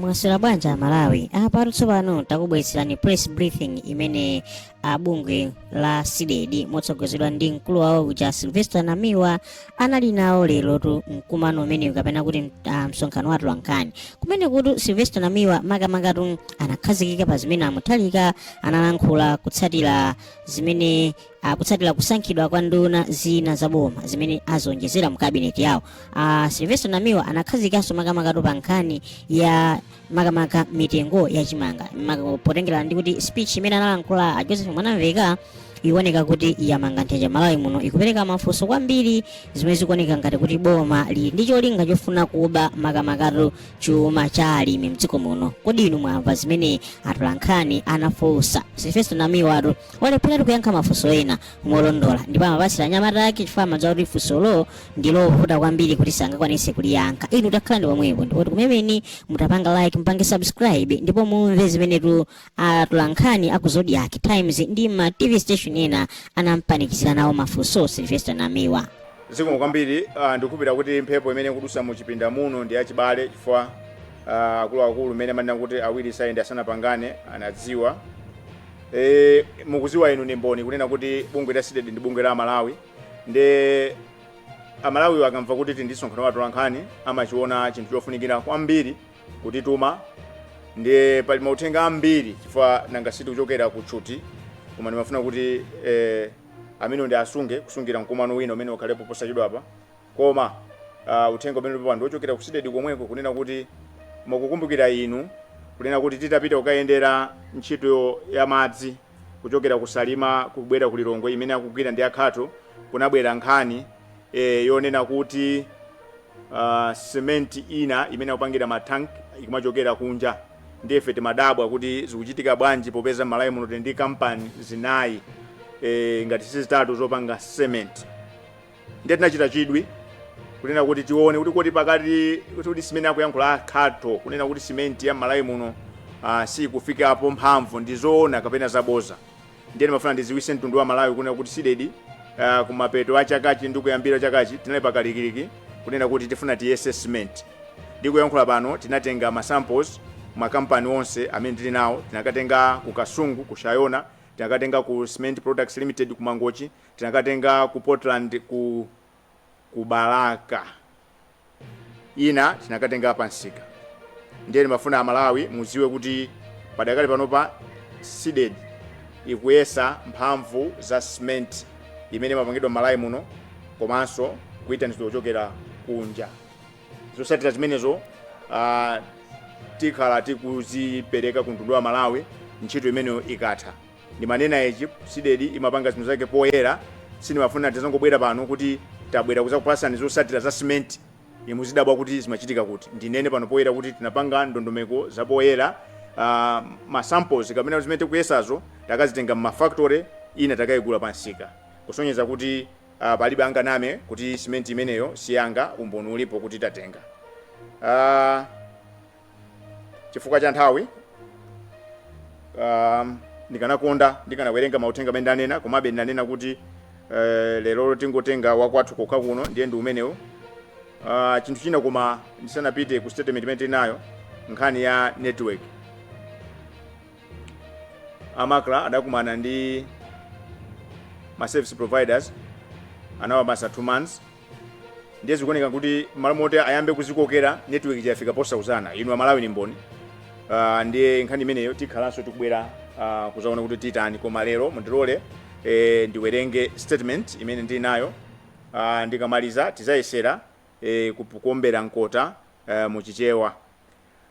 mwaswera bwanji amalawi apatu tsopano takubweretserani press briefing imene bungwe la cdedi motsogozedwa ndi mkulu wawo uja silvester namiwa anali nawo lerotu mkumano umenewu kapena kuti ah, msonkhano wa atolankhani kumenekutu silvester namiwa makamangatu anakhazikika pa zimene amuthalika analankhula kutsatira zimene kutsatira kusankhidwa kwa nduna zina za boma zimene azionjezera mu kabineti yawo a silvester namiwa anakhazikanso makamakatu pa nkhani ya makamaka mitengo ya chimanga Maka- potengera ndi kuti speech imene analankhula a joseph mwanamveka ikuoneka kuti yamanga nthenje malawi muno ikupereka mafunso kwambiri zimene zikuoneka ngati kuti boma lili ndi cholinga chofuna kuba makamakatu chuma cha alimi mdziko muno kodi inu mwamva zimene atolankhani anafunsa silvester namiwa atu analepheratu kuyankha mafunso ena molondola ndipo amapatsira anyamata ake chifukwa amadziwa kuti funsolo ndi lovuta kwambiri kuti sangakwanise kuliyankha inu takhalani pomwepo ndipo tikumemeni kuti mutapanga like mupange subscribe ndipo mumve zimenetu atolankhani aku zodiak times ndi ma tv station ena anampanikizira nawo mafunso silvester namiwa zikomo kwambiri uh, ndikhulupira kuti mphepo imene ikudusa mu chipinda muno ndi yachibale chifukwa uh, akuluakulu mmene amanena kuti awiri sayende asanapangane anadziwa E, mukuziwa inu ndi mboni kunena kuti bungwe la CDEDI ndi bungwe la Amalawi ndiye Amalawiwo akamva kuti tili ndi msonkhano wa atolankhani amachiona chinthu chofunikira kwambiri kutituma ndiye pali mauthenga ambiri chifukwa nanga siti kuchokera ku tchuti koma ndimafuna kuti eh, amenewo ndiasunge kusungira mkumano wina umene ukhalepo posachedwapa Koma uh, uthenga umene ulipo pano wochokera ku CDEDI komweko kunena kuti mukukumbukira inu kunena kuti titapita kukayendera ntchito ya madzi kuchokera ku Salima kubwera ku Lilongwe imene akugwira ndi akhato kunabwera nkhani eh, yonena kuti uh, simenti ina imene akupangira matank ikumachokera kunja ndiye ife timadabwa kuti zikuchitika bwanji popeza malawi muno tili ndi kampani zinayi e, ngati sizitatu zopanga cement ndiye tinachita chidwi kunena kuti tione kuti kodi pakati kuti kuti zimene akuyankhula akhato kunena kuti simenti ya malawi muno uh, sikufikapo mphamvu ndi zoona kapena zaboza ndiye ndimafuna ndiziwise mtundu wa malawi kunena kuti cdedi uh, kumapeto a chaka chi ndi kuyambira chakachi tinali pakalikiliki kunena kuti tifuna tiyese simenti ndikuyankhula pano tinatenga masamples makampani onse amene tili nawo tinakatenga ku kasungu ku shayona tinakatenga ku cement products limited ku mangochi tinakatenga ku Portland ku ku Balaka ina tinakatenga pa nsika ndiye timafuna Amalawi muziwe kuti padakali panopa CDEDI ikuyesa mphamvu za cement imene imapangidwa m'Malawi muno komanso kuyitanizidwa kuchokera kunja zosatira zimenezo uh, tikhala tikuzipereka ku mtundu wa Malawi ntchito imeneyo ikatha Ndimanena ichi CDEDI imapanga zinthu zake poyera sindimafuna tizangobwera pano kuti tabwera kuzakupasani zosatira za cement ndiye muzidabwa kuti zimachitika kuti. Ndinene pano poyera kuti tinapanga ndondomeko zapoyera ma samples kapena zimene tikuyesazo takazitenga mma factory ina takayigula pa msika kusonyeza kuti palibe anganame kuti cement imeneyo siyanga umboni ulipo kuti tatenga. chifukwa cha nthawi um, ndikanakonda ndikanawerenga mauthenga amene ndanena komabe ndanena kuti uh, lero tingotenga wakwathu kokha kuno ndiye ndi umenewo uh, chinthu china koma ndisanapite ku statement imene tinayo nkhani ya network a MACRA adakumana ndi ma service providers anawapasa 2 months ndiye zikuoneka kuti mmalo moti ayambe kuzikokera network chafika posauzana, inu amalawi ni mboni uh, ndiye nkhani imeneyo tikhalanso tikubwera uh, kuzaona kuti titani koma lero mundilole eh, ndiwerenge statement imene ndili nayo uh, ndikamaliza tizayesera eh, kup- kuombera mkota uh, muchichewa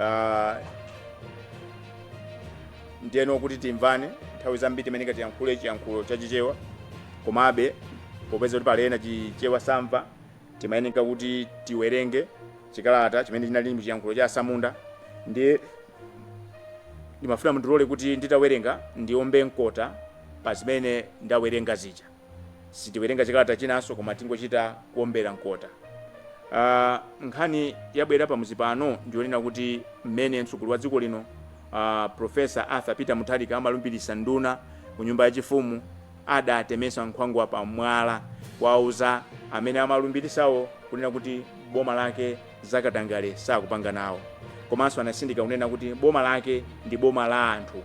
Ah, ndiyeno kuti timvane nthawi zambiri timayeneka tiyankhule chiyankhulo cha chichewa komabe popeza kuti pali ena chichewa samva timayeneka kuti tiwerenge chikalata chimene chinali mu chiyankhulo cha asamunda ndiye ndimafuna mundilole kuti nditawerenga ndiombe mkota pa zimene ndawerenga zija sitiwerenga chikalata chinanso koma tingochita kuombera mkota uh, nkhani yabwera pamuzi pano ndiyonena kuti mmene mtsogoleri wa dziko lino uh, Professor Arthur Peter Mutharika amalumbirisa nduna ku nyumba yachifumu adatemesa nkhwangwa pa mwala kuwauza amene amalumbirisawo kunena kuti boma lake zakatangale sakupanga nawo komanso anasindika kunena kuti boma lake ndi boma la anthu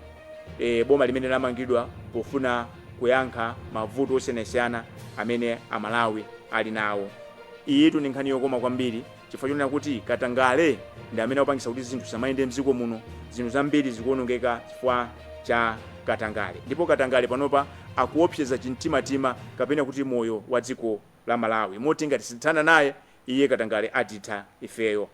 e, boma limene lamangidwa pofuna kuyankha mavuto osiyanasiyana amene Amalawi ali nawo. Iyitu ndi nkhani yokoma kwambiri chifukwa chonena kuti katangale ndi amene akupangisa kuti zinthu zisamayende mdziko muno, zinthu zambiri zikuonongeka chifukwa cha katangale ndipo katangale panopa akuopseza chimtimatima kapena kuti moyo wa dziko la Malawi moti ngati sitithana naye iye katangale atitha ifeyo.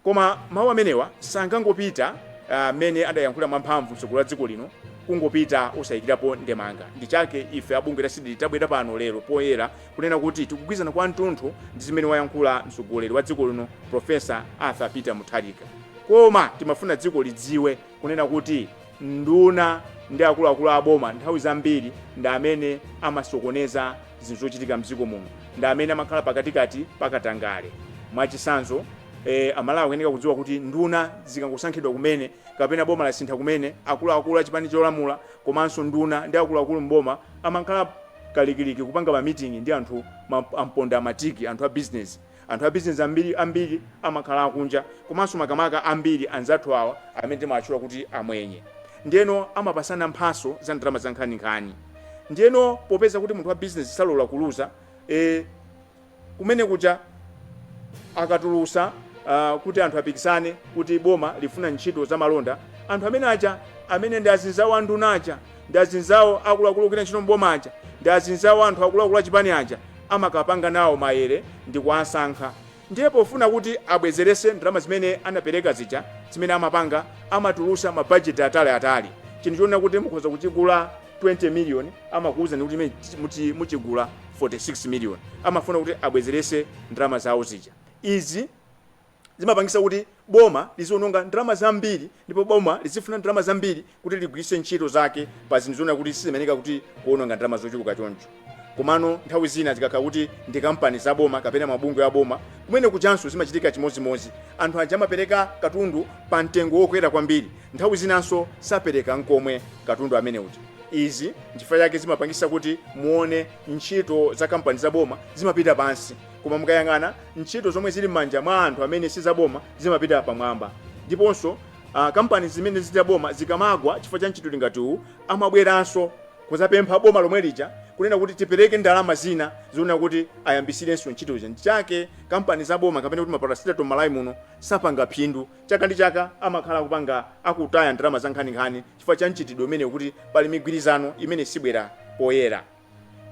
Koma mawu amenewa sangangopita ah, mmene adayankhula mwamphamvu mtsogoleri wa dziko lino kungopita osayikirapo ndemanga. Ndi chake ife a bungwe la Cdedi tabwera pano lero poyera kunena kuti tikugwirizana kwa mtunthu ndi zimene wayankhula mtsogoleri wa dziko lino Prof. Arthur Peter Mutharika. Koma timafuna dziko lidziwe kunena kuti nduna ndi akuluakulu a boma nthawi zambiri ndi amene amasokoneza zinthu zochitika m'dziko muno, ndi amene amakhala pakatikati pa katangale. Mwachitsanzo, Amalawi akuyenera kudziwa kuti nduna zikangosankhidwa kumene kapena boma lasintha kumene, akuluakulu a chipani cholamula komanso nduna ndi akuluakulu m'boma amakhala kalikiliki kupanga mamiting'i ndi anthu ampondamatiki, anthu abizinezi. Anthu a bizinezi ambiri amakhala akunja komanso makamaka ambiri anzathu awa amene timawatchula kuti amwenye. Ndiyeno amapasana mphaso za ndalama za nkhani nkhani. Ndiyeno popeza kuti munthu wa bizinezi salola kuluza, e, kumene kuja akatulusa uh, kuti anthu apikisane kuti boma lifuna ntchito za malonda, anthu amene aja amene ndi azinzawo a nduna aja ndi azinzawo akuluakulu ogwira ntchito m'boma aja ndi azinzawo anthu akuluakulu a chipani aja amakapanga nawo maere ndikuwasankha ndiye pofuna kuti abwezerese ndalama zimene anapereka zija zimene amapanga amatulusa ma budget ataliatali chinthu chonena kuti mukhoza kuchigula 20 million amakuwuzani kuti ime- muti- muchigula 46 million amafuna kuti abwezerese ndalama zawo zija izi zimapangisa kuti boma liziononga ndalama zambiri ndipo boma lizifuna ndalama zambiri kuti ligwiritse ntchito zake pa zinthu zonena kuti sizimayeneka kuti kuononga ndalama zochuluka choncho komano nthawi zina zikakhala kuti ndi kampani za boma kapena mabungwe a boma kumene kujanso zimachitika chimodzimodzi anthu aja amapereka katundu pa mtengo wokwera kwambiri nthawi zinanso sapereka nkomwe katundu amene uja izi nchifukwa chake zimapangisa kuti muone ntchito za kampani za boma zimapita pansi Koma mukayang'ana ntchito zomwe zili mmanja mwa anthu amene sizaboma zimapita pamwamba. Ndiponso uh, kampani zimene zili za boma zikamagwa chifukwa cha mchitidwe ngati uwu amabweranso kuzapempha boma lomwe lija kunena kuti tipereke ndalama zina zonena kuti ayambisirenso ntchito ija. Ndichake kampani za boma kapena kuti maparasitato Malawi muno sapanga phindu. Chaka ndi chaka amakhala akupanga akutaya ndalama za nkhaninkhani chifukwa cha mchitidwe umene kuti pali migwirizano imene sibwera poyera.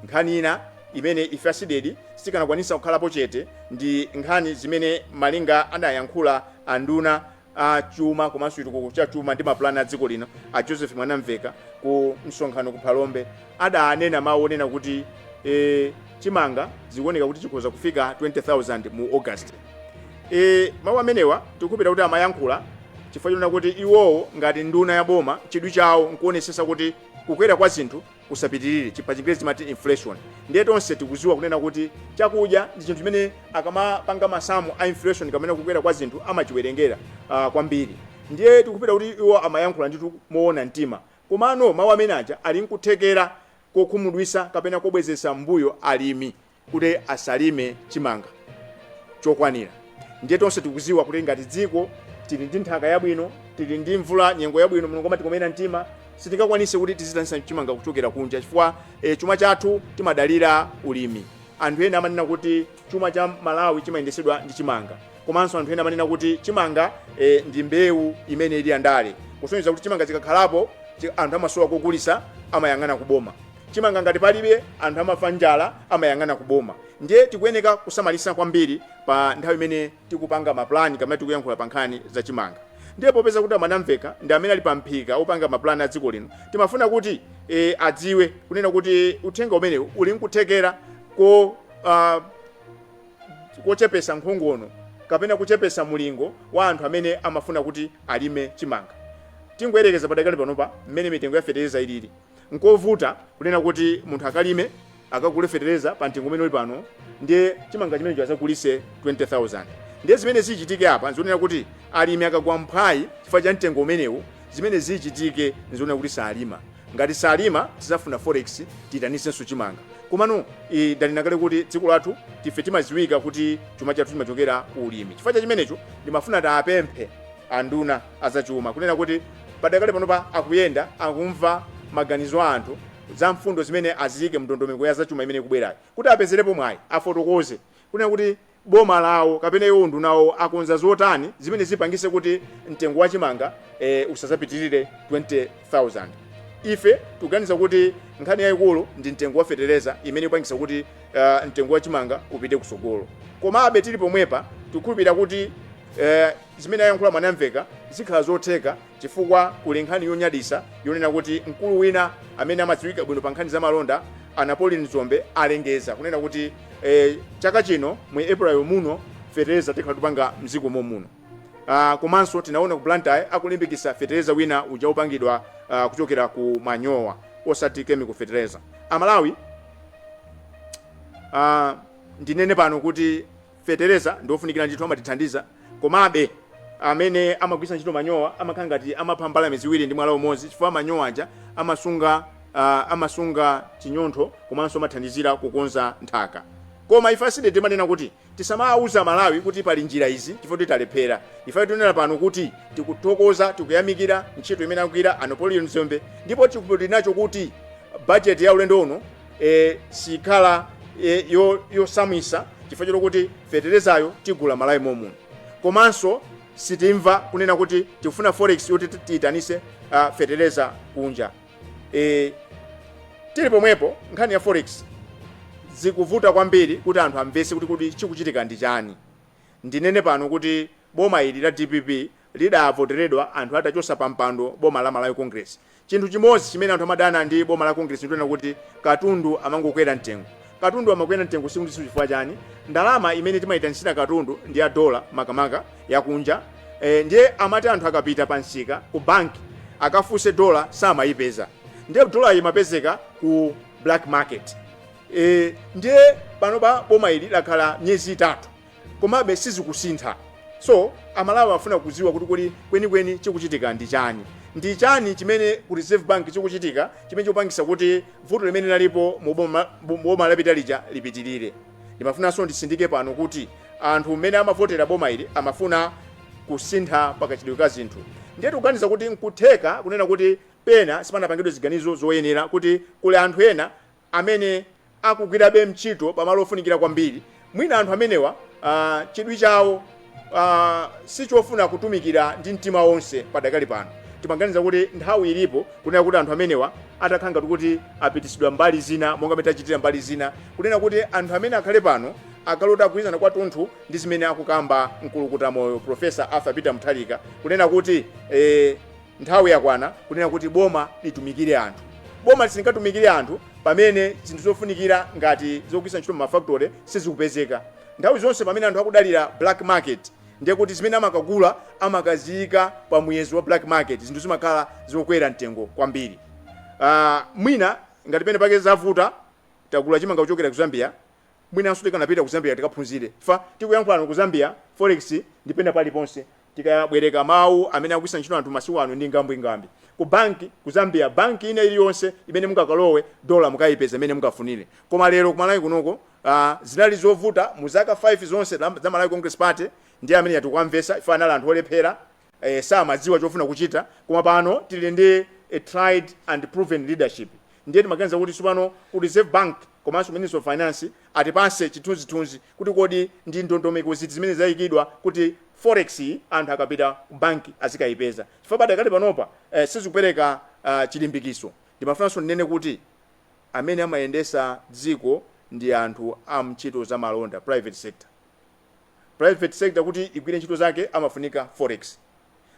Nkhani ina imene ife a Cdedi sitikanakwanisa kukhalapo chete ndi nkhani zimene malinga adayankhula a nduna a chuma komanso chitukuko cha chuma ndi mapulani a dziko lino a Joseph Mwanamveka ku msonkhano ku Phalombe adanena mawu onena kuti e, chimanga zikuoneka kuti chikhoza kufika 20,000 mu August. E, mawu amenewa tikukhulupira kuti amayankhula chifukwa chonena kuti iwowo ngati nduna ya boma chidwi chawo nkuonesesa kuti kukwera kwa zinthu kusapitirire chi pa chingerezi timati inflation ndiye tonse tikuziwa kunena kuti chakudya ndi chinthu chimene akamapanga masamu a inflation kapena kukwera kwa zinthu amachiwerengera uh, kwambiri ndiye tikupita kuti iwo amayankhula nditu moona mtima komano mawu amene aja ali nkuthekera kokhumudwisa kapena kobwezesa mbuyo alimi kuti asalime chimanga chokwanira ndiye tonse tikuziwa kuti ngati dziko tili ndi nthaka yabwino tili ndi mvula nyengo yabwino mulungu amatikomera mtima sitingakwanise kuti tizitanisa chimanga kuchokera kunja chifukwa e, chuma chathu timadalira ulimi anthu ena amanena kuti chuma cha malawi chimayendesedwa ndi chimanga komanso anthu ena amanena kuti chimanga e, ndi mbewu imene ili yandale kusonyeza kuti chimanga chikakhalapo chi- anthu amasowa kogulisa amayang'ana kuboma chimanga ngati palibe anthu amafa njala amayang'ana ku boma ndiye tikuyeneka kusamalisa kwambiri pa nthawi imene tikupanga ma plan kapena tikuyankhula pa nkhani za chimanga ndiye popeza kuti amwanamveka ndi amene ali pa mphika opanga ma plan a dziko lino timafuna kuti e, adziwe kunena kuti uthenga umenewu uli nkuthekera ko uh, kochepesa nkhongono kapena kuchepesa mulingo wa anthu amene amafuna kuti alime chimanga tingoyerekeza padakali panopa mmene mitengo ya fetereza ilili Nkovuta kunena kuti munthu akalime, akagule fetereza pa mtengo umene uli pano ndiye chimanga chimenecho azagulise 20,000. Ndiye zimene zichitike apa n'zonena kuti alimi akagwa mphwayi chifukwa cha mtengo umenewu, zimene zichitike n'zonena kuti salima. Ngati salima tizafuna forex tiitanisenso chimanga. Komano ii ndanena kale kuti dziko lathu tife timaziwika kuti chuma chathu chimachokera ku ulimi. Chifukwa cha chimenecho ndimafuna tiapemphe anduna. azachuma kunena kuti padakali panopa akuyenda akumva maganizo a anthu za mfundo zimene aziyike mndondomeko ya zachuma imene ikubwerayi kuti apezerepo mwayi afotokoze kunena kuti boma lawo kapena iwo unduna wawo akonza zotani zimene zipangise kuti mtengo wa chimanga e, usazapitirire 20000 ife tuganiza kuti nkhani yayikulu ndi mtengo wa fetereza imene ipangisa kuti uh, mtengo wa chimanga upite kusogolo komabe tili pomwepa tikukhulupirira kuti uh, Zimene ayankhula Mwanamveka zikhala zotheka chifukwa kuli nkhani yonyadisa yonena kuti mkulu wina amene amadziwika bwino pa nkhani za malonda a Napoleon Dzombe alengeza kunena kuti eh, chaka chino mu April muno fetereza tikhala tupanga mziko momuno. Uh, komanso tinaona ku Blantyre akulimbikisa fetereza wina uja upangidwa uh, kuchokera ku manyowa osati chemical fetereza. Amalawi uh, ndinene pano kuti Fetereza ndi ofunikira ndithu amatithandiza komabe amene amagwiritsa ntchito manyowa amakhala ngati amapha mbalame ziwiri ndi mwala umodzi chifukwa manyowa aja amasunga uh, amasunga chinyontho komanso amathandizira kukonza nthaka koma ife a CDEDI timanena kuti tisamawuza amalawi kuti pali njira izi chifukwa titalephera ife tinena pano kuti tikuthokoza tikuyamikira ntchito imene akugwira a Napoleon Dzombe ndipo tikupiti nacho kuti bajeti ya ulendo uno e, sikhala e, yo, yosautsa chifukwa chokuti feterezayo tigula malawi momuno komanso sitimva kunena kuti tikufuna forex yoti ti- tiyitanise uh, fetereza kunja e, tili pomwepo nkhani ya forex zikuvuta kwambiri kuti anthu amvese kuti kodi chikuchitika ndi chani ndinene pano kuti boma ili la dpp lidavoteredwa anthu atachotsa pampando boma la Malawi Congress. Chinthu chimodzi chimene anthu amadana ndi boma la Congress ndichonena kuti katundu amangokwera mtengo. Katundu amakwera mtengo tsiku ndi tsiku chifukwa chani? Ndalama imene timaitanitsira katundu ndi ya dollar makamaka yakunja e, ndiye amati anthu akapita pa msika ku banki akafunse dollar samayipeza, ndiye dollar imapezeka ku black market e, ndiye panopa boma ili lakhala miyezi itatu komabe sizikusintha so amalawi afuna kuziwa kuti kodi kweni kweni chikuchitika ndi chani ndi chani chimene ku reserve bank chikuchitika chimene chikupangisa kuti vuto limene linalipo mu boma- mu boma lapita lija lipitirire ndimafunanso ndisindike pano kuti anthu mmene amavotera boma ili amafuna kusintha pakachitidwe ka zinthu ndiye tikuganiza kuti nkutheka kunena kuti pena sipanapangidwe ziganizo zoyenera kuti kuli anthu ena amene akugwirabe ntchito pa malo ofunikira kwambiri, mwina anthu amenewa a, chidwi chawo a, sichofuna kutumikira ndi mtima onse padakali pano. Timaganiza kuti nthawi ilipo kunena kuti anthu amenewa atakhala ngati kuti apitisidwa mbali zina monga mene tachitira mbali zina, kunena kuti anthu amene akhale pano akhale oti agwirizana kwatunthu ndi zimene akukamba mkulukuta moyo Prof. Arthur Peter Mutharika kunena kuti e, Nthawi yakwana kunena kuti boma litumikire anthu. Boma silingatumikire anthu pamene zinthu zofunikira ngati zogwiritsa ntchito mma factory sizikupezeka. Nthawi zonse pamene anthu akudalira black market ndiye kuti zimene amakagula amakaziyika pa muyezo wa black market zinthu zimakhala zokwera mtengo kwambiri. Mwina ngati penapake zavuta tagula chimanga kuchokera ku Zambia Mwinanso tikanapita ku Zambia tikaphunzire chifukwa tikuyankhula pano ku Zambia, forex ndi pena paliponse. Tikabwereka mawu amene akugwiritsa ntchito anthu masiku ano ndi ngambwingambwi. Ku bank ku Zambia, bank ina iliyonse imene mungakalowe dollar mukayipeza imene mungafunire. Koma lero ku Malawi kunoko aah zinali zovuta mu zaka 5 zonse za Malawi Congress Party ndiye amene aja tikuwamvetsa chifukwa anali anthu olephera e, samadziwa chofuna kuchita koma pano tili ndi a tried and proven leadership ndiye timaganiza kuti tsopano ku Reserve Bank komanso Ministry of Finance atipase chithunzithunzi kuti kodi ndi ndondomeko ziti zimene zayikidwa kuti forex anthu akapita ku bank azikayipeza chifukwa padakali panopa e, sizikupereka uh, chilimbikitso ndimafunanso ndinene kuti amene amayendesa dziko ndi anthu a mntchito za malonda private sector Private sector kuti igwire ntchito zake amafunika forex.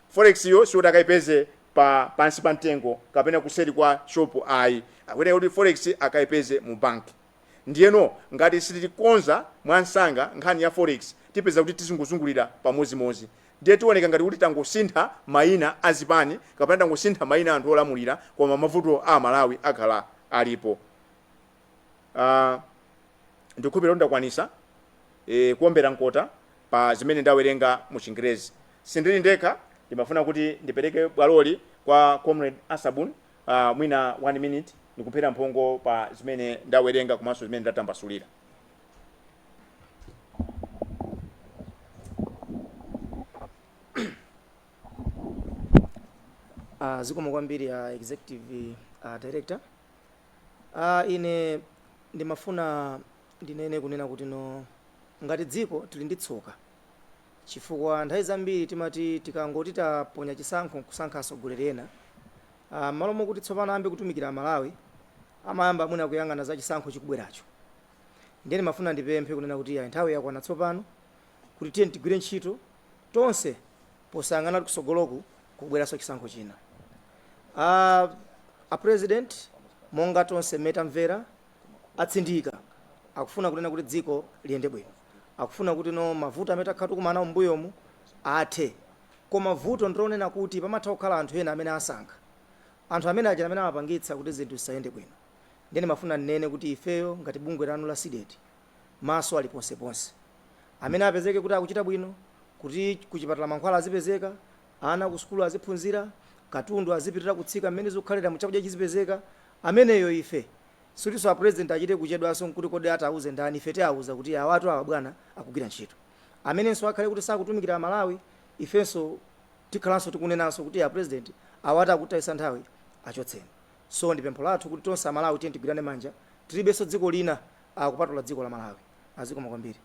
Forex yo siyoti akaipeze pansi pa mtengo kapena kuseri kwa shop ayi. Akuyenera kuti forex akaipeze mu bank. Ndiyeno ngati sitikonza mwansanga nkhani ya forex tipeza kuti tizingozungulira pamodzimodzi. Ndiye tioneka ngati kuti tangosintha maina a zipani kapena tangosintha maina a anthu olamulira koma mavuto a Amalawi akhala alipo. Ndikukhulupirira kuti ndakwanitsa kuwombera mkota pa zimene ndawerenga mu Chingelezi. Sindili ndekha, ndimafuna kuti ndipereke bwaloli kwa Comrade Asabun, mwina 1 minute nkuphera mphongo pa zimene ndawerenga komanso zimene ndatambasulira. Zikomo kwambiri a Executive Director. Ah, ine ndimafuna ndinene, kunena kuti no, ngati dziko, tiri ndi tsoka. Chifukwa, nthawi zambiri timati tikangoti taponya chisankho nkusankha atsogoleri ena, ah, mmalo mokuti tsopano ayambe kutumikira Amalawi, amayamba mwina kuyang'ana za chisankho chikubweracho. Ndiye ndimafuna ndipemphe, kunena kuti, iyayi, nthawi yakwana tsopano kuti tiyeni tigwire ntchito tonse. posayang'ana kuti kusogoloku kukubweranso chisankho china. A a president monga tonse mmene tamvera atsindika akufuna kunena kuti dziko liyende bwino. Akufuna kuti no mavuto amene takhala tikumana nawo m'mbuyomu athe. Koma vuto ndi lonena kuti pamatha kukhala anthu ena amene asankha. Anthu amene aja amene amapangitsa kuti zinthu zisayende bwino. Ndiye ndimafuna ndinene kuti ifeyo ngati bungwe lanu la Cdedi maso ali ponseponse. Amene apezeke kuti akuchita bwino, kuti kuchipatala mankhwala azipezeka, ana kusukulu aziphunzira, katundu azipitirira kutsika mmene zikukhaliramu chakudya chizipezeka, ameneyo ife sikutinso a president achite kuchedwanso kuti kodi ati auze ndani, ife tiauza kuti awatu awa bwana akugwira ntchito. Amenenso akhale kuti sakutumikira Malawi ifenso tikhalanso tikunenanso kuti a president awatu akutitayitsa nthawi achotseni. So ndi pempho lathu kuti tonse a Malawi tiyeni tigwirane manja, tilibenso dziko lina akupatula dziko la malawi azikomo kwambiri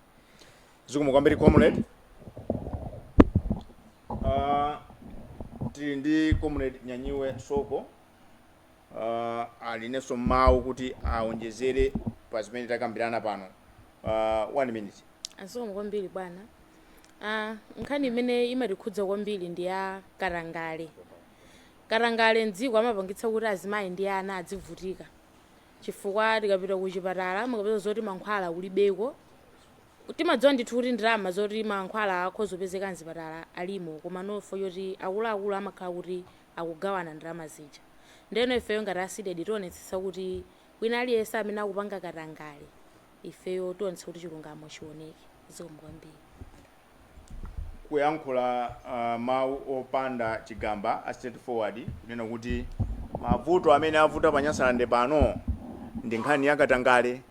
zikomo kwambiri comrade uh, tili ndi comrade nyanyiwe soko uh, alinenso mawu kuti aonjezere pa zimene takambirana pano uh, one minute azikomo kwambiri bwana ah, nkhani imene imatikhudza kwambiri ndi ya katangale katangale mdziko amapangitsa kuti azimayi ndi ana adzivutika chifukwa tikapita kuchipatala mukapeza zoti mankhwala kulibeko timadziwa ndithu kuti ndalama zoti mankhwala akhoza kupezeka mzipatala alimo koma nofo choti akuluakulu amakhala kuti akugawana ndalama zija ndeno ifeyo ngati a CDEDI tionetsetsa kuti wina aliyense amene akupanga katangale ifeyo tionetsetsa kuti chilungamo chioneke zikomo kwambiri. kuyankhula mawu opanda chigamba a straight forward kunena kuti mavuto amene avuta pa Nyasalande pano ndi nkhani ya katangale.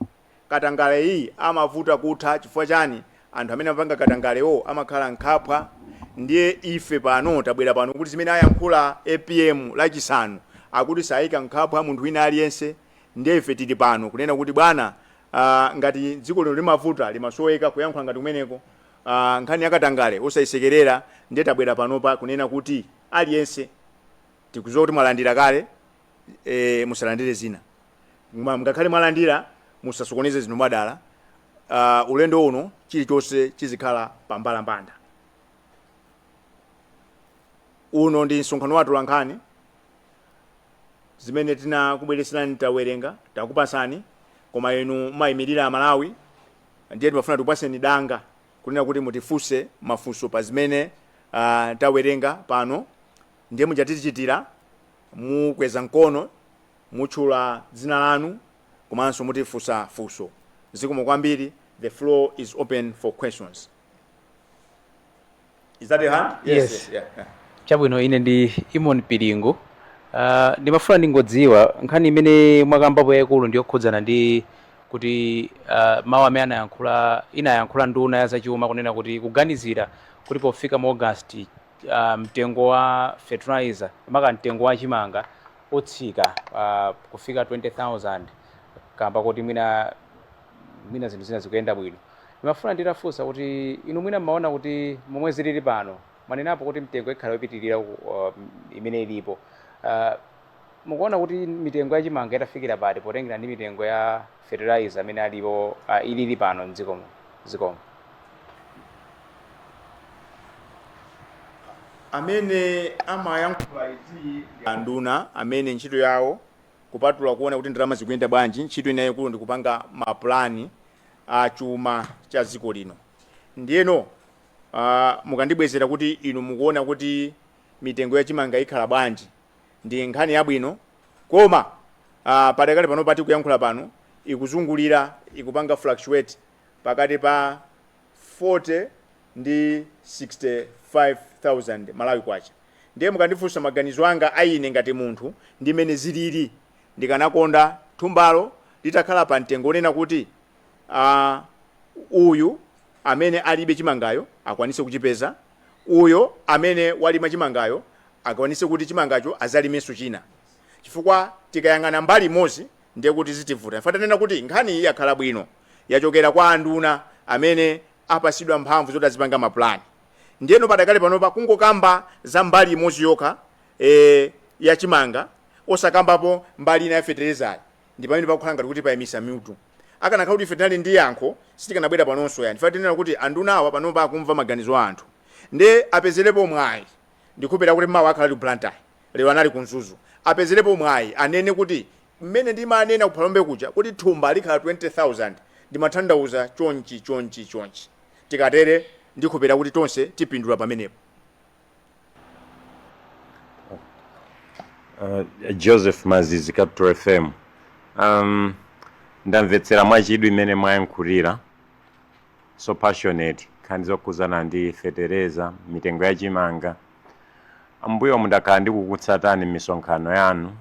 Katangaleyi amavuta kutha chifukwa chani anthu amene amapanga katangalewo amakhala mkhwapa ndiye ife pano tabwera pano kuti zimene ayankhula apm lachisanu akuti sayika mkhwapa munthu wina aliyense ndiye ife tili pano kunena kuti bwana aah ngati dziko lino limavuta limasoweka kuyankhula ngati kumeneko aah nkhani ya katangale osayisekerera ndiye tabwera panopa kunena kuti aliyense tikuziwa kuti mwalandira kale eeh musalandire zina koma ngakhale mwalandira musasokoneze zinthu mwadala aah ulendo uno chilichonse chizikhala pa mbalambanda uno ndi msonkhano wa atolankhani zimene tinakubweretserani tawerenga takupasani koma inu mumayimirira amalawi ndiye timafuna tikupaseni danga kunena kuti mutifunse mafunso pa zimene uh, tawerenga pano ndiye muja tichitira mukweza mkono mutchula dzina lanu komanso mutifunsa funso zikomo kwambiri the floor is open for questions Is that your hand? Yes. Yeah. yeah. chabwino ine ndi imon pilingu Ah, ndimafuna ndingodziwa nkhani imene mwakambapo yayikulu ndi yokhudzana ndi kuti ah, mawu amene anayankhula inayankhula nduna ya zachuma kunena kuti kuganizira kuti pofika mu august ah, mtengo wa fertilizer maka mtengo wa chimanga utsika ah, kufika 20000 kamba koti mwina mwina zinthu zina zikuyenda bwino ndimafuna nditafunsa kuti inu mwina mmaona kuti momwe zilili pano mwanenapo kuti mitengo ikhala yopitirira uh, imene ilipo uh, mukuona kuti mitengo ya chimanga itafikira pati potengera ndi mitengo ya fertilizer amene alipo uh, ilili pano mdziko muno zikomo amene amayankhula izi ndi anduna amene ntchito yawo Kupatula kuona kuti ndalama zikuyenda bwanji, ntchito ina yaikulu ndi kupanga mapulani a chuma cha dziko lino. Ndiyeno, ah, mukandibwezera kuti inu mukuona kuti mitengo ya chimanga ikhala bwanji, ndi nkhani yabwino. Koma, ah, padakali panopa tikuyankhula pano, ikuzungulira, ikupanga fluctuate pakati pa. 40 ndi 65,000 Malawi Kwacha ndiye mukandifunsa maganizo anga a ine ngati munthu ndi mmene zilili ndikanakonda thumbalo litakhala pa mtengo onena kuti aah uyu amene alibe chimangayo akwanitse kuchipeza uyu amene walima chimangayo akwanitse kuti chimangacho azalimenso china chifukwa tikayang'ana mbali imodzi ndiye kuti zitivuta. Ife tikunena kuti nkhani iyi yakhala bwino yachokera kwa anduna amene apasidwa mphamvu zoti azipanga ma plan. Ndiyeno padakali panopa kungokamba za mbali imodzi yokha e, ya chimanga osakambapo mbali ina ya fetelezayi ndi pamene pakukhala ngati kuti payimisa mutu. Akanakhala kuti ife tinali ndi yankho sitikanabwera panonso yani ife tikunena kuti anduna awa panopa akumva maganizo a anthu nde apezelepo mwayi ndikhulupirira kuti mawa akhala ali ku Blantyre. lero anali ku mzuzu apezerepo mwayi anene kuti mmene ndimanena ku phalombe kuja kuti thumba likhala 20000 ndimathandauza chonchi chonchi chonchi tikatere ndikhulupirira kuti tonse tipindula pamenepo. Uh, joseph mazizi capital fm um, ndamvetsera mwachidwi mmene mwayankhulira so passionate nkhani zokhudzana ndi fetereza mitengo ya chimanga M'mbuyomu ndakhala ndikukutsatani m'misonkhano yanu.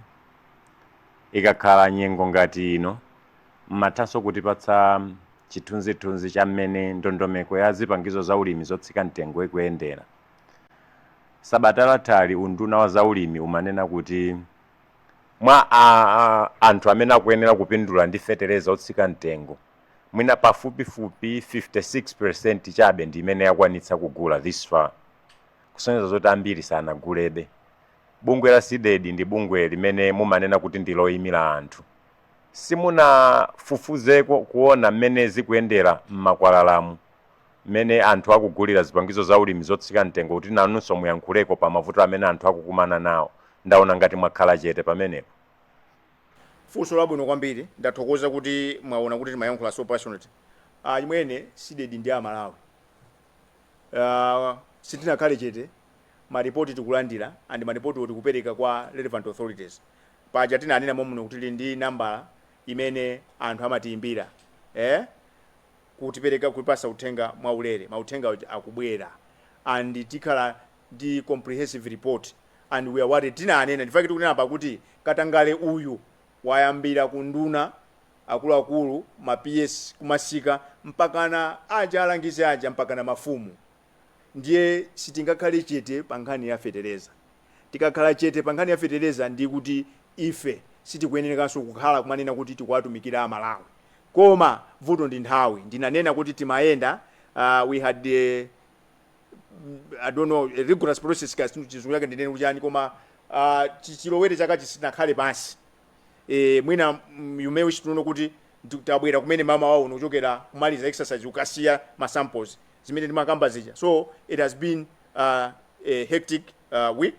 Ikakhala nyengo ngati ino, m'mathanso kutipatsa chithunzithunzi cha mmene ndondomeko ya zipangizo za ulimi zotsika mtengo ikuyendera. Sabata lathali unduna wa za ulimi umanena kuti mwa anthu amene akuyenera kupindula ndi fetereza otsika mtengo, mwina pafupifupi 56 peresenti chabe ndi imene yakwanitsa kugula this far, kusonyeza zoti ambiri sanagulebe. Bungwe la Cdedi ndi bungwe limene mumanena kuti ndi loimira anthu, simunafufuzeko kuona mmene zikuyendera m'makwalalamu, mmene anthu akugulira zipangizo zaulimi zotsika mtengo kuti nanunso muyankhuleko pa mavuto amene anthu akukumana nawo? Ndaona ngati mwakhala chete pamenepo. Funso labwino kwambiri ndathokoza kuti mwaona kuti timayankhula so passionately achimwene Cdedi ndi amalawi uh, sitinakhale chete maripoti tikulandira and maripotiwo tikupereka kwa relevant authorities paja tinanena momuno kuti tili ndi nambala imene anthu amatiyimbira eh? kutipereka kutipasa uthenga mwaulere mauthenga akubwera and tikhala ndi comprehensive report and we are worried tinanena nchifukwa chake tikunena apa kuti katangale uyu wayambira ku nduna akuluakulu ma PS kumasika mpakana aja alangizi aja mpakana mafumu ndiye sitingakhale chete pa nkhani ya fetereza tikakhala chete pa nkhani ya fetereza ndi kuti ife sitikuyenerekanso kukhala kumanena kuti tikuwatumikira amalawi koma vuto ndi nthawi ndinanena kuti timayenda uh, we had uh, I don't know, a rigorous process kaya chizungu chake ndinene kuti chani koma uh, chilowere chaka sitinakhale pansi e, mwina mm, you may wish to know kuti ndi- tabwera kumene mmawa uno kuchokera kumaliza exercise kukasiya ma samples zimene ndimakamba zija so it has been uh, a hectic uh, week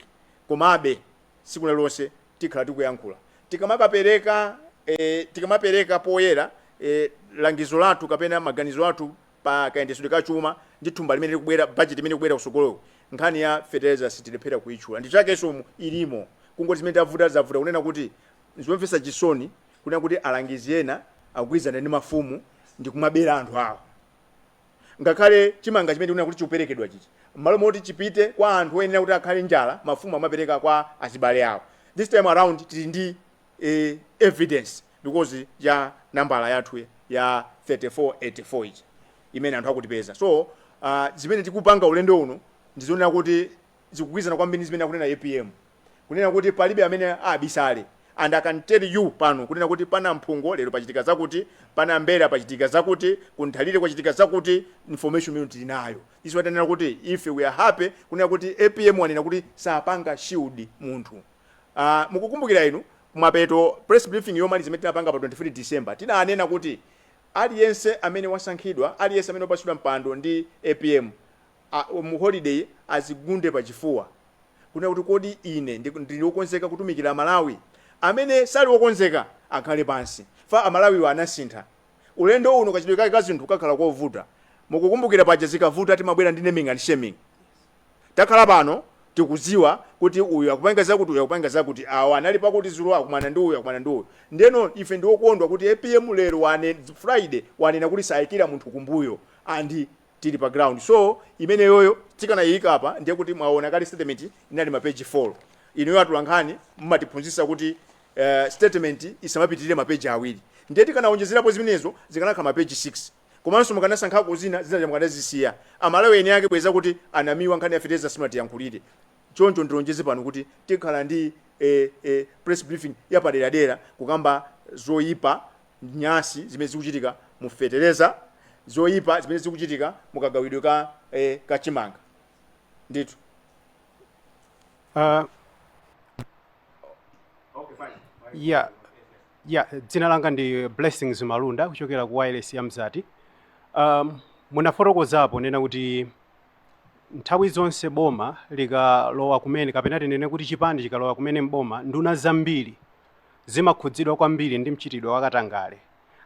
komabe tsiku lililonse tikhala tikuyankhula tikamakapereka eh, tikamapereka poyera eh, langizo lathu kapena maganizo athu pa kayendetsedwe ka chuma ndi thumba limene likubwera, bajeti imene ikubwera kutsogoloku, nkhani ya fetereza sitilephera kuitchula ndi chakenso umu ilimo kungoti zimene zavuta zavuta kunena kuti nzomvetsa chisoni kunena kuti alangizi ena akugwirizana ndi mafumu ndi kumabera anthu awo ngakhale chimanga chimene tikunena kuti chikuperekedwa chichi m'malo moti chipite kwa anthu oyenera kuti akhale njala mafumu amapereka kwa azibale awo this time around tili ndi e evidence because ya nambala yathu ya 3484 ija imene anthu akutipeza so uh, zimene tikupanga ulendo uno ndizoonera kuti zikugwirizana kwambiri ndi zimene akunena apm kunena kuti palibe amene abisale and i can tell you pano kunena kuti pa Namphungo lero pachitika zakuti pa Nambera pachitika zakuti ku Nthalire kwachitika zakuti information imene tili nayo that's why tanena kuti ife we are happy kunena kuti apm wanena kuti sapanga shield munthu Ah, mukukumbukira inu, kumapeto, press briefing yomaliza imene tinapanga pa 23 December, tinanena kuti aliyense amene wasankhidwa, aliyense amene wapatsidwa mpando ndi apm, a, mu holiday azigunde pa chifuwa, kunena kuti kodi ine ndi, ndili wokonzeka kutumikira Malawi? Amene sali wokonzeka akhale pansi, chifukwa Amalawiwa anasintha. Ulendo uno kachitidwe kake ka zinthu kakhala kovuta. Mukukumbukira paja zikavuta timabwera ndi naming and shaming? Takhala pano tikudziwa kuti uyu akupanga zakuti, uyu akupanga zakuti, awa anali pakuti dzulo akumana ndi uyu, akumana ndi uyu. Ndeno ife ndi okondwa kuti apm lero wane, Friday wanena kuti saikira munthu kumbuyo and tili pa ground. So imeneyoyo tikanaiika apa ndiye kuti mwaona kale statement inali ma page 4. Inuyo atolankhani mmatiphunzitsa kuti statement isamapitilire ma page awiri. Ndiye tikanaonjezerapo zimenezo zikanakhala ma page 6. Komanso mukanasankhako zina, zinaja mukanazisiya. Amalawi eni ake bweza kuti a Namiwa nkhani ya fertilizer simunatiyankhulire. Choncho ndilonjeze pano kuti tikhala ndi a a press briefing yapaderadera kukamba zoipa nyansi zimene zikuchitika mu fetereza, zoipa zimene zikuchitika mu kagawidwe ka a ka chimanga. Ndithu. Ah, okay, fine. yeah. ya dzina langa ndi blessings malunda kuchokera ku wireless ya mzati um, munafotokozapo nena kuti nthawi zonse boma likalowa kumene kapena tinene kuti chipani chikalowa kumene mboma nduna zambiri zimakhudzidwa kwambiri ndi mchitidwe wakatangale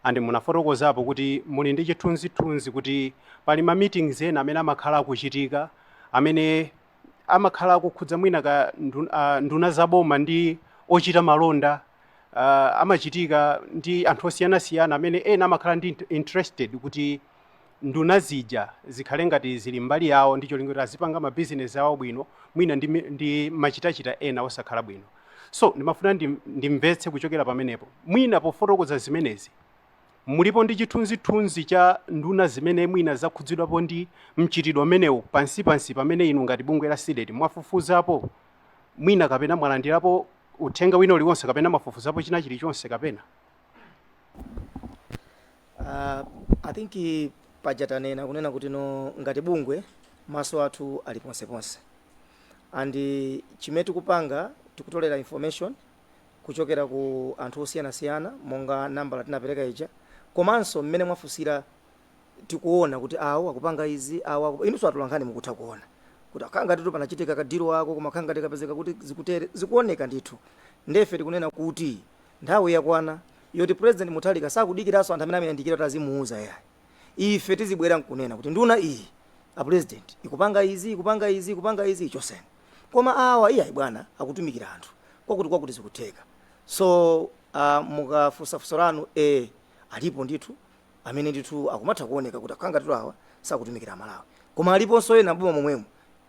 and munafotokozapo kuti muli ndi chithunzithunzi kuti pali ma meetings ena amene amakhala akuchitika amene amakhala akukhudza mwina ka ndun- ah, nduna za boma ndi ochita malonda uh, amachitika ndi anthu osiyanasiyana amene ena amakhala ndi interested kuti nduna zija zikhale ngati zili mbali yawo ndi cholinga kuti azipanga mabisinesi awo bwino mwina ndi, ndi machitachita ena osakhala bwino so ndimafuna ndimvetse kuchokera pamenepo mwina pofotokoza zimenezi mulipo ndi chithunzithunzi cha nduna zimene mwina zakhudzidwapo ndi mchitidwe umenewu pansi pansi pamene inu ngati bungwe la CDEDI mwafufuzapo mwina kapena mwalandirapo uthenga wina uliwonse kapena mwafufuzapo china chilichonse kapena Uh, I think eh, paja tanena kunena kuti no ngati bungwe maso athu ali ponseponse and eh, chimene tikupanga tikutolera information kuchokera ku anthu osiyanasiyana monga nambala tinapereka ija komanso mmene mwafunsira tikuona kuti awo akupanga izi, awo akup... inunso atolankhani mukutha kuona kuti akhala ngatitu panachitika ka deal wako koma akhala ngati tikapezeka kuti zikutere zikuoneka ndithu ndefe tikunena kuti nthawi yakwana yoti president Mutharika sakudikiranso anthu amene amayandikira kuti azimuuza yayi ife tizibwera nkunena kuti nduna iyi a president ikupanga izi ikupanga izi ikupanga izi ichoseni koma awa iyayi bwana akutumikira anthu kwakuti kwakuti zikutheka so uh, mukafunsa funso lanu e alipo ndithu amene ndithu akumatha kuoneka kuti akukhala ngatitu awa sakutumikira amalawi koma aliponso ena m'boma momwemo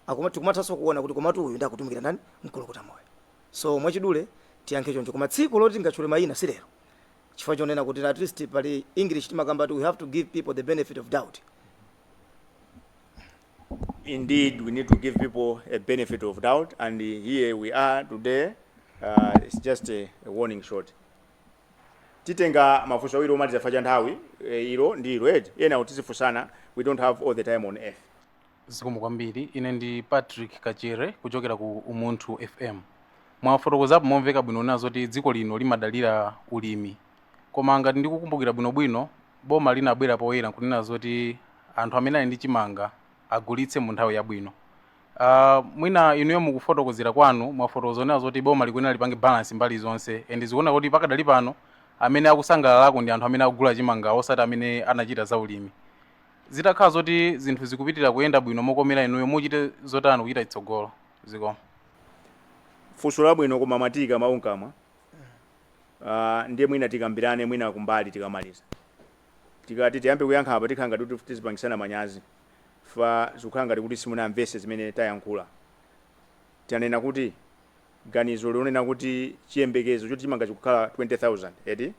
akuma, tikumathanso kuona kuti komatu uyu nde akutumikira ndani mkulukuta moyo so mwachidule tiyankhe choncho koma tsiku loti tingatchule mayina si lero chifukwa chonena kuti at least pali english timakamba kuti we have to give people the benefit of doubt indeed we need to give people a benefit of doubt and uh, here we are today uh, it's just a, a warning shot titenga mafunso awiri omaliza fa cha nthawi eh, ilo ndi ilo eti ena tizifunsana we don't have all the time on earth zikomo kwambiri ine ndi patrick kachere kuchokera ku umunthu fm mwafotokozapo momveka bwino kunena zoti dziko lino limadalira ulimi koma ngati ndikukumbukira bwinobwino boma linabwera poyera nkunena zoti anthu amene ali ndi chimanga agulitse mu nthawi yabwino Uh, mwina inuyo mukufotokozera kwanu mwafotokoza kunena zoti boma likuyenera lipange balance mbali zonse and zikuoneka kuti pakadali pano amene akusangalalako ndi anthu amene akugula chimanga osati amene anachita za ulimi zitakhala zoti zinthu zikupitira kuyenda bwino mokomera inuyo muchite zotani kuchita chitsogolo zikomo funso labwino koma mwatiika mawu mkamwa uh, ndiye mwina tikambirane mwina kumbali tikamaliza tikati tiyambe kuyankha apa tikhala ngati tizipangisana manyazi chifukwa zikukhala ngati kuti simunamvetse zimene tayankhula. Tanena kuti ganizo lonena kuti chiyembekezo choti chimanga chikukhala 20,000, eti?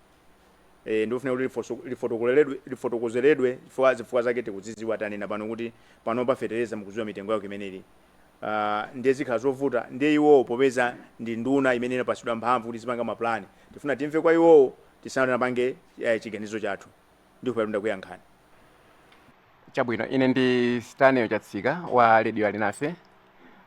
Eee, ndikufuna kuti lifoso, lifotokoleledwe, lifotokozeledwe chifukwa zifukwa zake tikudzidziwa tanena pano kuti panopa fetereza mukudziwa mitengo yake imene ili. Uh, ndiye zikhala zovuta ndiye iwowo popeza ndi nduna imene inapatsidwa mphamvu kuti izipanga mapulani tifuna timve kwa iwowo tisanapange eh, chiganizo chathu ndikhulupirira ndakuyankhani chabwino ine ndi stanley chatsika wa radio alinafe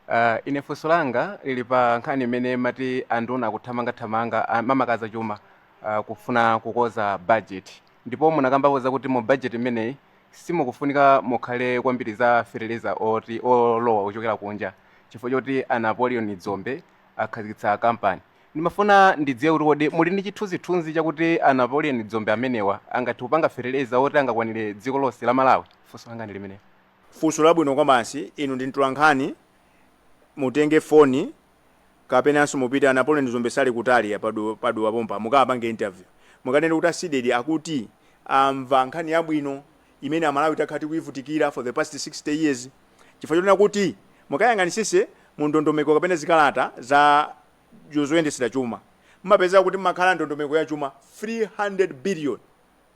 uh, ine funso langa lili pa nkhani imene mati anduna akuthamangathamanga ah, mmakadza chuma uh, kufuna kukonza budget ndipo munakambapo zakuti mu budget imeneyi simukufunika mukhale kwambiri za fertilizer oti olowa kuchokera kunja chifukwa choti a napoleon dzombe akhazikitsa kampani Ndimafuna ndidziwe kuti kodi muli ndi chithunzithunzi chakuti a Napoleon Dzombe amenewa angathe kupanga feteleza woti angakwanire dziko lonse la Malawi? Funso langa ndi limenelo. Funso labwino kwabasi, inu ndi mtolankhani, mutenge foni kapenanso mupite, a Napoleon Dzombe sali kutali apa pa Dowa, pa Dowa pompa, mukawapange interview. Mukanene kuti a Cdedi akuti amva nkhani yabwino imene Amalawi takhala tikuivutikira for the past 60 years chifukwa chonena kuti, mukayang'anitsitse mu ndondomeko kapena zikalata za. zo zoyendetsera chuma mmapezeka kuti mmakhala ndondomeko ya chuma 300 billion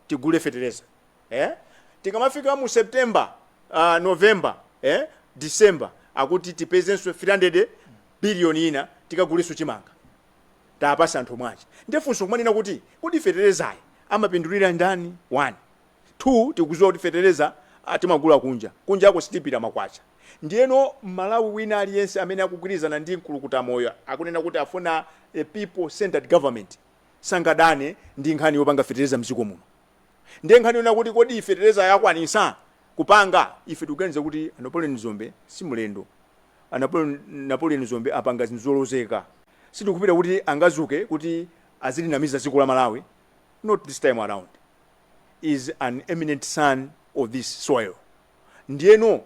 tigule fetereza eh? tikamafika mu september uh, november eh? december akuti tipezenso 300 billion ina tikagulenso chimanga tipatse anthu mwachi nde funso kumanena kuti kodi feterezayi amapindulira ndani wani 2 tikuziwa kuti fetereza timagula kunja kunjako sitipita makwacha ndiyeno mmalawi wina aliyense amene akugwirizana ndi mkulukutamoyo akunena kuti afuna a people centred government sangadane ndi nkhani yopanga fetereza mziko muno ndiye nkhani yonena kuti kodi feterezayo akwanisa kupanga ife tikuganiza kuti a Napoleon Dzombe simulendo a Napoleon Napoleon Dzombe apanga zinthu zolozeka sitikupita kuti angazuke kuti azilinamiza ziko la malawi not this time around is an eminent son of this soil ndiyeno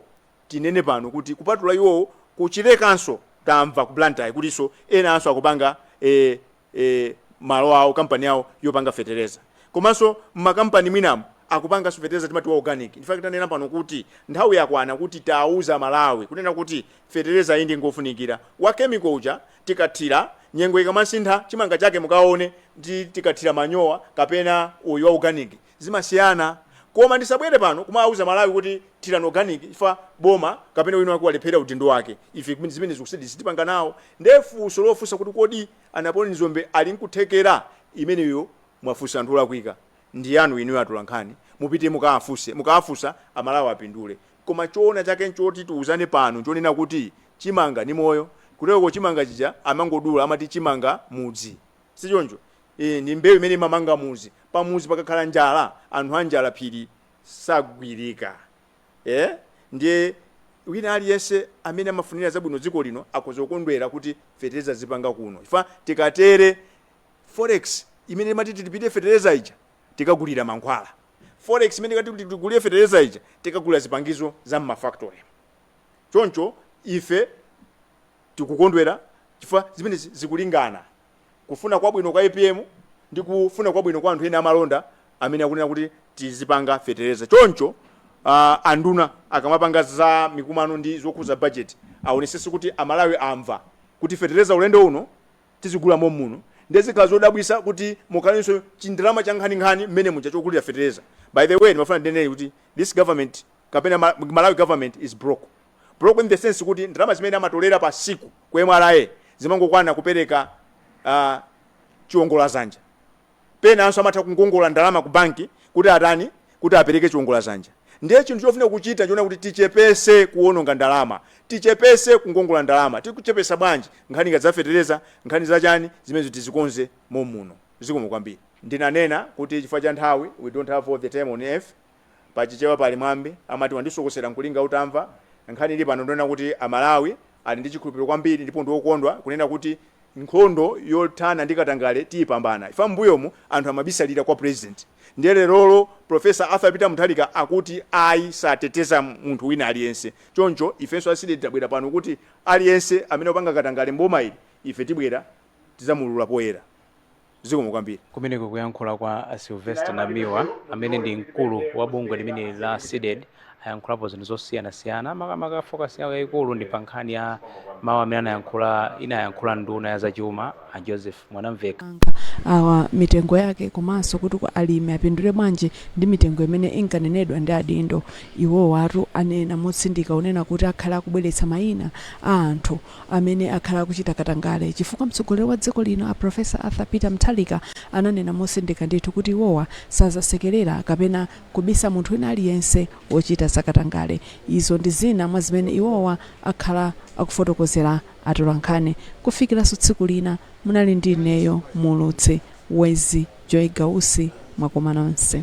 tinene pano kuti kupatula iwowo ku Chilekanso tamva ku Blantyre kutinso enanso akupanga eh, eh, malo awo kampani yawo yopanga fetereza komanso m'makampani mwinamu akupanganso fetereza timati wa organic in fact tanena pano kuti nthawi yakwana kuti tiuze aMalawi kunena kuti fetereza iyi ndi ngofunikira wa chemical uja tikathira, nyengo ikamasintha chimanga chake mukaone ndi tikathira manyowa kapena uyu wa organic zimasiyana koma ndisabwere pano kumawauza aMalawi kuti thirani organic chifukwa boma kapena wina wake walephera udindo wake ife zimenezo kusedi sitipanga nawo nde funso lofunsa kuti kodi a Napoleon Dzombe ali nkuthekera imeneyo mwafunsa anthu olakwika ndi yanu inuyo atolankhani mupite mukawafunse mukawafunse a Malawi apindule Koma choona chake nchoti tiuzane pano nchonena kuti chimanga ni moyo. Kuteroko chimanga chija amangodula amati chimanga mudzi. Sichoncho? Eeh ndi mbeu imene imamanga mudzi. Pamudzi pakakhala njala anthu anjala phiri sagwirika. Eeh ndiye wina aliyense amene amafunira zabwino dziko lino akhoza kukondwera kuti fetereza tizipanga kuno chifukwa tikatere forex imene timati tilipirire fetereza ija tikagulira mankhwala. Forex imene ikati kuti tigulire fetereza ija tikagulira zipangizo za m'ma factory mu. Choncho ife tikukondwera chifukwa zimenezi zikulingana kufuna kwabwino kwa APM ndi kufuna kwabwino kwa anthu ena amalonda amene akunena kuti tizipanga fetereza. Choncho uh, anduna akamapanga za mikumano ndi zokhudza budget aonesese kuti amalawi amva kuti fetereza ulendo uno tizigula mommuno ndiye zikhala zodabwisa kuti mukhalanso chindalama chankhaninkhani mmenemuja chogulira fetereza by the way ndimafuna ndinenedi kuti this government kapena ma, malawi government is broke broke in the sense kuti ndalama zimene amatolera pa siku ku mra zimangokwana kupereka uh, chiongolazanja penanso amatha kungongola ndalama ku banki kuti atani, kuti apereke chiongola zanja. Ndiye chinthu chofuna kuchita nchonena kuti tichepese kuononga ndalama, tichepese kungongola ndalama. Tikuchepesa bwanji? Nkhani ngati za fetereza, nkhani za chani, zimenezo tizikonze mommuno. Zikomo kwambiri. Ndinanena kuti chifukwa cha nthawi, we don't have all the time on earth. Pa Chichewa pali mwambi amati wandisokosera n'kulinga utamva. Nkhani ili pano ndiyonena kuti Amalawi ali ndi chikhulupiriro kwambiri ndipo ndi okondwa kunena kuti nkhondo yothana ndi katangale tiyipambana chifukwa m'mbuyomu anthu amabisalira kwa pulezidenti ndiye lerolo Prof. Arthur Peter Mutharika akuti ayi sateteza munthu wina aliyense. Choncho ifenso a Cdedi tabwera pano kuti aliyense amene akupanga katangale m'boma ili ife tibwera tidzamuulula poyera. zikomo kwambiri. Kumeneko kuyankhula kwa a Sylvester Namiwa amene ndi mkulu wa bungwe limeneli la Cdedi ayankhulapo zinthu zosiyanasiyana makamaka focus yawo yayikulu ndi pa nkhani ya mawu amene anayankhula inayankhula nduna ya zachuma a Joseph Mwanamveka. awa mitengo yake komanso kuti alimi apindule bwanji ndi mitengo imene inkanenedwa ndi adindo. Iwowatu anena motsindika kunena kuti akhala akubweretsa mayina a anthu amene akhala akuchita katangale chifukwa mtsogoleri wa dziko lino a Professor Arthur Peter Mutharika ananena motsindika ndithu kuti iwowa sazasekerera kapena kubisa munthu wina aliyense wochita za katangale. Izo ndi zina mwa zimene iwowa akhala akufotokozera atolankhani. Kufikiranso tsiku lina munali ndi ineyo muulutsi Wezzie Joy Gausi mwakoma nonse.